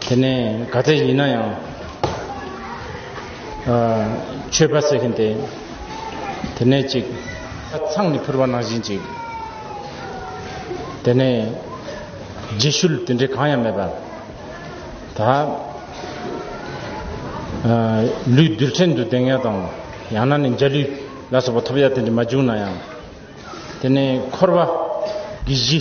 དེ་ནས་ག་ཚད་ཡིན་ན་ཡང་ཆོས་པ་ཟེར་གིན་དེ་དེ་ནས་ཅིག་ཚང་ནས་ཕུར་བ་ནང་བཞིན་ཅིག་དེ་ནས་རྗེས་ཤུལ་དེ་འདྲའི་གང་ཡང་མེད་པ་ད་ལུས་རྡུལ་ཕྲན་དུ་དེང་ཡ་དང་ཡང་ན་ནས་འཇའ་ལུས་ལ་སོགས་པ་ཐོབ་ཡ་དེ་འདྲ་མ་བྱུང་ན་ཡང་དེ་ནས་འཁོར་བ་གི་གཞི་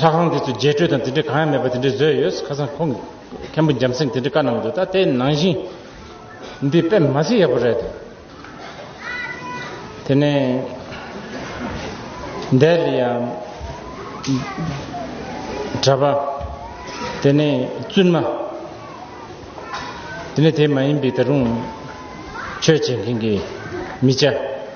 ལྷ་ཁང་དེ་ཚོའི་རྒྱས་སྤྲོས་དང་དེ་འདྲའི་གང་ཡང་མེད་པ་དེ་འདྲའི་བཟོས་ཡོད་ཁ་སང་ཁོང་གི་མཁན་པོ་འཇམ་སེང་དེ་འདྲའི་བཀའ་གནང་འདུག་ད་ལྟའི་ནང་བཞིན་འདི་དཔེ་མ་ཚིག་ཡག་པོ་རེད་དེ་ནས་འདས་ལ་ཡང་གྲྭ་པ་དེ་ནས་བཙུན་མ་དེ་ནས་དེ་མ་ཡིན་པའི་ད་རུང་ཆོས་བྱེད་མཁན་གྱི་མི་བྱ་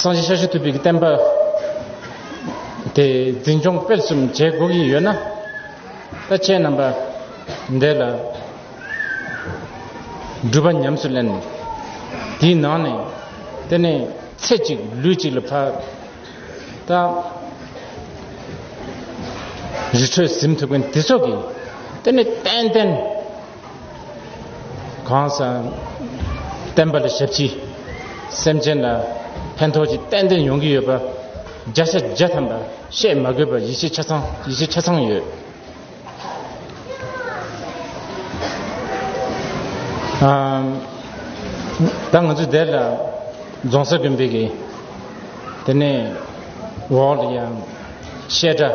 སངས་རྒྱས་ཞལ་ཞུ་ཐུབ་པའི་བསྟན་པ་དེ་འཛིན་སྐྱོང་སྤེལ་གསུམ་བྱེད་དགོས་ཀྱི་ཡོད་ན་ད་ཁྱེད་རྣམ་པ་འདས་ལ་སྒྲུབ་པ་ཉམས་སུ་ལེན་དེའི་ནང་ནས་དེ་ནས་ཚེ་གཅིག་ལུས་གཅིག་ལ་ཕར་ད་རི་ཁྲོད་གཟིམ་ཐུབ་མཁན་དེ་ཚོ་གིས་དེ་ནས་ཏན་ཏན་གང་ཟག་བསྟན་པ་ལ་ཞབས་ཕྱི། སེམས་ཅན་ལ་ཕན་ཐོགས་ཀྱི་ཏན་ཏན་ཡོང་གི་ཡོད་པ། བརྒྱ་ཆ་བརྒྱ་ཐམ་པ་བཤད་མ་དགོས་པར་ཡིད་ཆེས་ཆ་ཚང་ཡིད་ཆེས་ཆ་ཚང་ཡོད། ད་ང་ཚོས་དེ་ལ་རྫོང་སར་དགོན་པའི་གི་དེ་ནས་འོག་ལ་ཡང་བཤད་གྲྭ།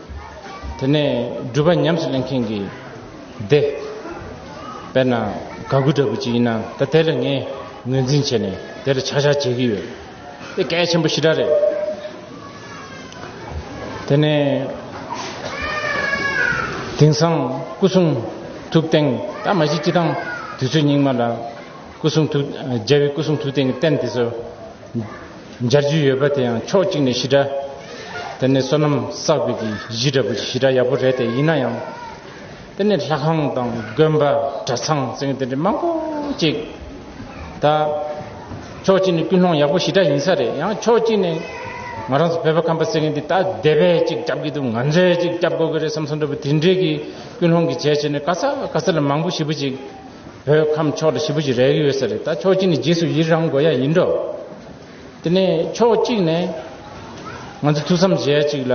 དེ་ནས་སྒྲུབ་པ་ཉམས་སུ་ལེན་མཁན་གྱི་སྡེ། དཔེར་ན་དགའ་མགུ་འདྲ་པོ་ཅིག་ཡིན་ན་ད་དེ་ལ་ངས་ངོས་འཛིན་བྱས་ནས་དེ་ལ་ཆག་ཆག་བྱེད་ཀྱི་ཡོད། དེ་གལ་ཆེན་པོ་ཞི་དྲག་རེད། དེ་ནས་དེང་སང་སྐུ་གསུང་ཐུགས་རྟེན་ད་མ་གཞི་སྤྱི་དང་དུས་ཚོད་སྙིགས་མ་ལ་སྐུ་གསུང་ཐུགས་རྒྱལ་བའི་སྐུ་གསུང་ཐུགས་རྟེན་གྱི་རྟེན་དེ་ཚོ། སྦྱར་རྒྱུ་ཡོད་པ་དེ་ཡང་ཕྱོགས་གཅིག་ནས་ཞི་དྲག་དེ་ནི་བསོད་ནམས་བསགས་པའི་གཞི་འདྲ་བོ་ཞི་དྲག་ཡག་པོ་རེད་དེ་ཡིན་ན་ཡང་དེ་ནི་ལྷ་ཁང་དང་དགོན་པ་གྲྭ་ཚང་ཚིང་དེ་འདྲ་མང་པོ་གཅིག་ད་ཕྱོགས་གཅིག་ནས་ཀུན་སློང་ཡག་པོ་ཞི་དྲག་ཡིན་ས་རེད་ཡང་ཕྱོགས་གཅིག་ནས་ང་རང་ཚོ་བོད་པ་ཁམས་པ་ཟེར་མཁན་དེ་ད་སྡེ་བས་གཅིག་བསྐྱབས་ཀྱི་འདུག་ང་ཚོས་གཅིག་བསྐྱབས་དགོས་ཀྱི་རེད་བསམ་སོང་འདྲ་བོ་དེ་འདྲའི་གི་ཀུན་སློང་གི་བྱས་བྱས་ནས་ག་ས་ག་ས་ལ་མང་པོ་ཞིབ་པོ་ཅིག་བོད་ཁམས་ཕྱོགས་དེ་བཞི་པོ་ཞིག་རེག་ཡོད་ས་རེད་ད་ཕྱོགས་གཅིག་ནས་རྗེས་སུ་ཡི་རང་དགོས་ཡ་ཡིན་འགྲོ། དེ་ནས་ཕྱོགས་གཅིག་ནས་ང་ཚོ་ཐུགས་བསམ་བཞེས་ཡ་གཅིག་ལ།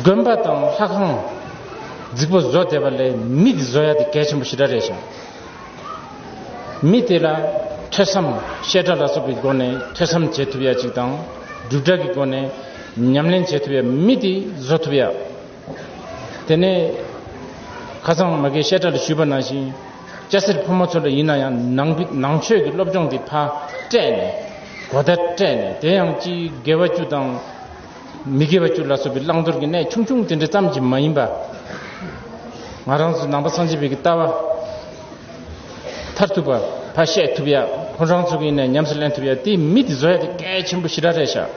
དགོན་པ་དང་ལྷ་ཁང་རྫིག་པོ་བཟོ་བསྡད་པ་ལས་མི་དེ་བཟོ་ཡ་དེ་གལ་ཆེན་པོ་ཞེ་དྲག་རེད་ཞང། མི་དེ་ལ་ཐོས་བསམ་བཤད་གྲྭ་ལ་སོགས་ཀྱི་སྒོ་ནས་ཐོས་བསམ་བྱེད་ཐུབ་ཡ་གཅིག་དང་སྒྲུབ་གྲྭ་གི་སྒོ་ནས་ཉམས་ལེན་བྱེད་ཐུབ་ཡ་མི་དེ་བཟོ་ཐུབ་ཡ། དེ་ནས་ཁ་སང་མ་གའི་བཤད་གྲྭ་ལ་ཞུས་པ་ནང་བཞིན་སྐྱ་སེར་ཕོ་མོ་ཚོ་འདྲ་ཡིན་ན་ཡང་ནང་ནང་ཆོས་ཀྱི་སློབ་སྦྱོང་གི་ཕ་སྤྲད་ནས་གོ་བརྡ་སྤྲད་ནས་དེ་ཡང་སྤྱིའི་དགེ་བ་བཅུ་དང་མི་དགེ་བ་བཅུ་ལ་སོགས་པའི་བླང་དོར་གྱི་གནད་ཆུང་ཆུང་དེ་འདྲ་ཙམ་གྱིས་མ་ཡིན་པ། ང་རང་ཚོ་ནང་པ་སངས་རྒྱས་བོད་ཀྱི་ལྟ་བ་མཐར་ཐུག་པ་ཕ་བཤད་ཐུབ་ཡ་ཁོང་རང་ཚོ་གི་ཡིན་ནས་ཉམས་སུ་ལེན་ཐུབ་ཡ་དེའི་མི་དེ་བཟོ་ཡ་དེ་གལ་ཆེན་པོ་ཞི་ར་རེད་ཤག།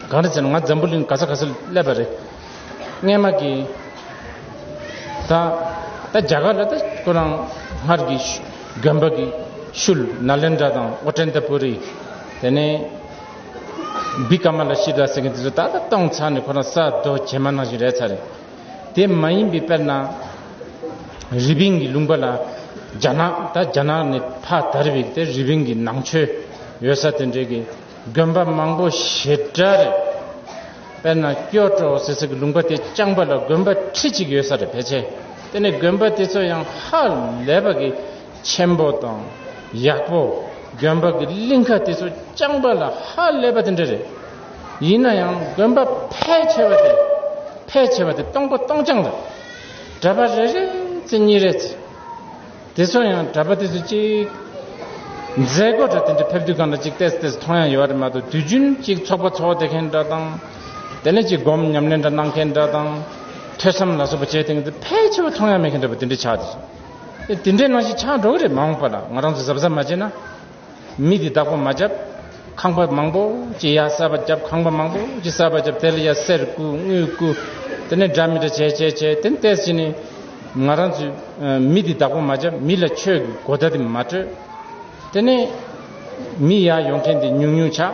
གང་རེད་ཟེར་ན་ང་འཛམ་བུ་གླིང་ག་ས་ག་སར་སླེབས་པ་རེད། སྔས་མ་གི། ད་ད་རྒྱ་གར་ལ་ད་ཁོ་རང་སྔར་གི་རྒན་པ་གི་ཤུལ་ན་ལེན་དྲ་དང་ཨོ་ཀྲན་ཏ་པུ་རི། དེ་ནས། བི་ཀ་མ་ལ་ཤི་དྲ་ཟེར་མཁན་དེ་ཚོ་ད་ད་གཏོང་ཚར་ནས་ཁོ་རང་ས་རྡོ་བྱེ་མ་ནང་བཞིན་རེད་ཚར་རེད། དེ་མ་ཡིན་པའི་དཔེར་ན། རི་པིན་གི་ལུང་པ་ལ་རྒྱ་ནག་ད་རྒྱ་ནག་ནས་ཕ་དར་བའི་དེ་རི་པིན་གི་ནང་ཆོས་ཡོད་ས་དེ་འདྲའི་གི་དགོན་པ་མང་པོ་ཞེ་དྲག་རེད། དཔེར་ན་སྐྱོ་བྲོ་ཟེར་སའི་ལུང་པ་དེ་རྐྱང་པ་ལ་དགོན་པ་ཁྲི་གཅིག་ཡོད་ས་རེད་ཕལ་ཆེར་དེ་ནི་དགོན་པ་དེ་ཚོ་ཡང་ཧ་ལས་པ་གི་ཆེན་པོ་དང་ཡག་པོ་དགོན་པ་གི་གླིང་ཁ་དེ་ཚོ་རྐྱང་པ་ལ་ཧ་ལས་པ་དེ་འདྲ་རེད། ཡིན་ན་ཡང་དགོན་པ་ཕལ་ཆེ་བ་དེ་ཕལ་ཆེ་བ་དེ་སྟོང་པ་སྟོང་རྐྱང་རེད། གྲྭ་པ་རེ་རེ་ཚེ་གཉིས་རེ་ཚེ། དེ་ཚོ་ཡང་གྲྭ་པ་དེ་ཚོ་གཅིག། མཛད་སྒོ་གྲྭ་དེ་འདྲ་ཕེབས་དུས་གང་འདྲ་གཅིག་བལྟས་བལྟས་མཐོང་ཡང་ཡོད་རེད་མ་གཏོགས་དུས་རྒྱུན་གཅིག་ཚོགས་པ་ཚོགས་བསྡད་མཁན་འདྲ་དང། དེ་ནས་གཅིག་སྒོམ་ཉམས་ལེན་འདྲ་གནང་མཁན་འདྲ་དང། ཐོས་བསམ་ལ་སོགས་པ་བྱས་ཐེངས་འདི་ཕལ་ཆེ་བ་མཐོང་ཡང་མེད་མཁན་འདྲ་པོ་དེ་འདྲ་ཆགས་འདུག་དེ་འདྲའི་ནང་བཞིན་ཆགས་འགྲོ་གི་རེད་མ་འོངས་པ་ལ་ང་རང་ཚོ་གཟབ་གཟབ་མ་བྱས་ན། མི་དེ་བདག་པོ་མ་བརྒྱབ། ཁང་པ་མང་པོ་ཅི་ཡག་གསར་པ་བརྒྱབ་ཁང་པ་མང་པོ་ཅི་གསར་པ་བརྒྱབ་དེ་ལ་ཡ་སེར་བརྐུ་དངུལ་བརྐུ། དེ་ནས་འདྲ་མི་འདྲ་བྱས་བྱས་བྱས་དེ་ནས་བལྟས་ཟིན་ནས། ང་རང་ཚོས་མི་དེ་བདག་པོ་མ་བརྒྱབ་མི་ལ་ཆོས་ཀྱི་གོ་བརྡ་དེ་མ་སྤྲོད། དེ་ནས། མི་ཡག་ཡོང་མཁན་དེ་ཉུང་ཉུང་ཆགས།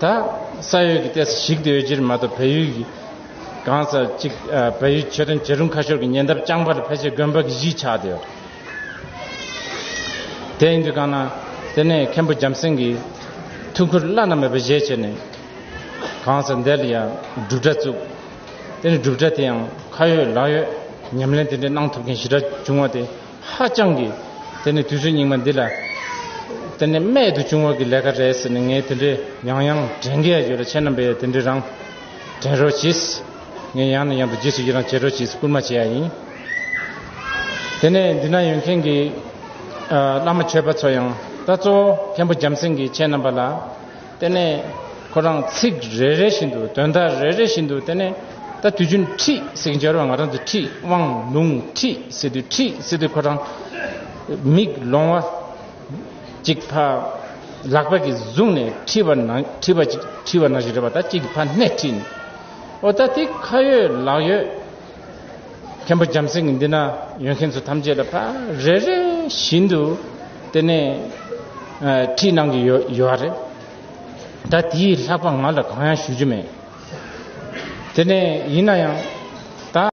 ད་ས་ཡོད་ཀྱི་ལྟས་སུ་གཞིགས་ཏེ་འོས་སྦྱོར་མ་གཏོགས་བལ་ཡུལ་གང་ས་གཅིག་བལ་ཡུལ་ཆོས་དོན་བྱེད་རུང་ཁ་ཤོར་གྱི་ཉེ་འདབས་རྐྱང་པར་ཕལ་ཆེར་དགོན་པ་གི་གཞིས་ཆགས་ཏེ་ཡོད། དེ་ཡིན་དུས་གང་ན་དེ་ནས་མཁན་པོ་འཇམ་སེང་གིས་ཐུགས་ཁུར་བླ་ན་མེད་པ་བཞེས་བྱས་ནས་གང་ས་འདི་ལ་ཡང་སྒྲུབ་གྲྭ་བཙུགས། དེ་ནས་སྒྲུབ་གྲྭ་དེ་ཡང་ཁ་ཡོད་ལག་ཡོད་ཉམས་ལེན་དེ་འདྲའི་གནང་ཐུབ་མཁན་ཞི་དྲག་བྱུང་བ་དེ་ཧ་ཅང་གི། དེ་ནི་དུས་ཚོད་རྙིང་མ་འདི་ལ། དེ་ནི་རྨད་དུ་བྱུང་བ་གི་ལས་ཀ་རེད་ཟེར་ནས་ངས་དེ་འདྲའི་ཡང་ཡང་དྲན་གི་ཡོད་ལ་ཁྱེད་རྣམ་པས་ཡང་དེ་འདྲའི་རང་དྲན་རོགས་གྱིས། ངས་ཡང་ནས་ཡང་དུ་རྗེས་སུ་ཡི་རང་བྱེད་རོགས་གྱིས་སྐུལ་མ་བྱས་ཡ་ཡིན། དེ་ནས་འདི་ན་ཡོད་མཁན་གི། བླ་མ་ཆོས་པ་ཚོ་ཡང། ད་གཙོ་བོ་མཁན་པོ་འཇམ་སེང་གིས་ཁྱེད་རྣམ་པ་ལ། དེ་ནས་ཁོ་རང་ཚིག་རེ་རེ་བཞིན་དུ་དོན་དག་རེ་རེ་བཞིན་དུ་དེ་ནས་ད་དུས་རྒྱུན་ཁྲིད་ཟིག་འབྱོར་བ་ང་རང་ཚོ་ཁྲིད་དབང་ལུང་ཁྲིད་ཟེར་དུས་ཁྲིད་ཟེར་དུས་ཁོ་རང་མིག་ལོང་བ་ཅིག་ཕ་ལག་པ་གིས་བཟུང་ནས་ཁྲིད་པ་ན་ཁྲིད་པ་ཅིག་ཁྲིད་པ་ན་ཞིག་རེད་པ་ད་ཅིག་ཕ་སྣེ་ཁྲིད་ནས་ཨོ་ད་དེ་ཁ་ཡོད་ལག་ཡོད། མཁན་པོ་འཇམ་སེང་གི་འདི་ན་ཡོད་མཁན་ཚོ་ཐམས་ཅད་ལ་ཕ་རེ་རེ་བཞིན་དུ་དེ་ནས་ཁྲིད་གནང་གི་ཡོད་ཡོད་རེད། ད་དེའི་ལྷག་པ་ང་ལ་གང་ཡང་ཞུ་རྒྱུ་མེད། དེ་ནས་ཡིན་ན་ཡང་ད།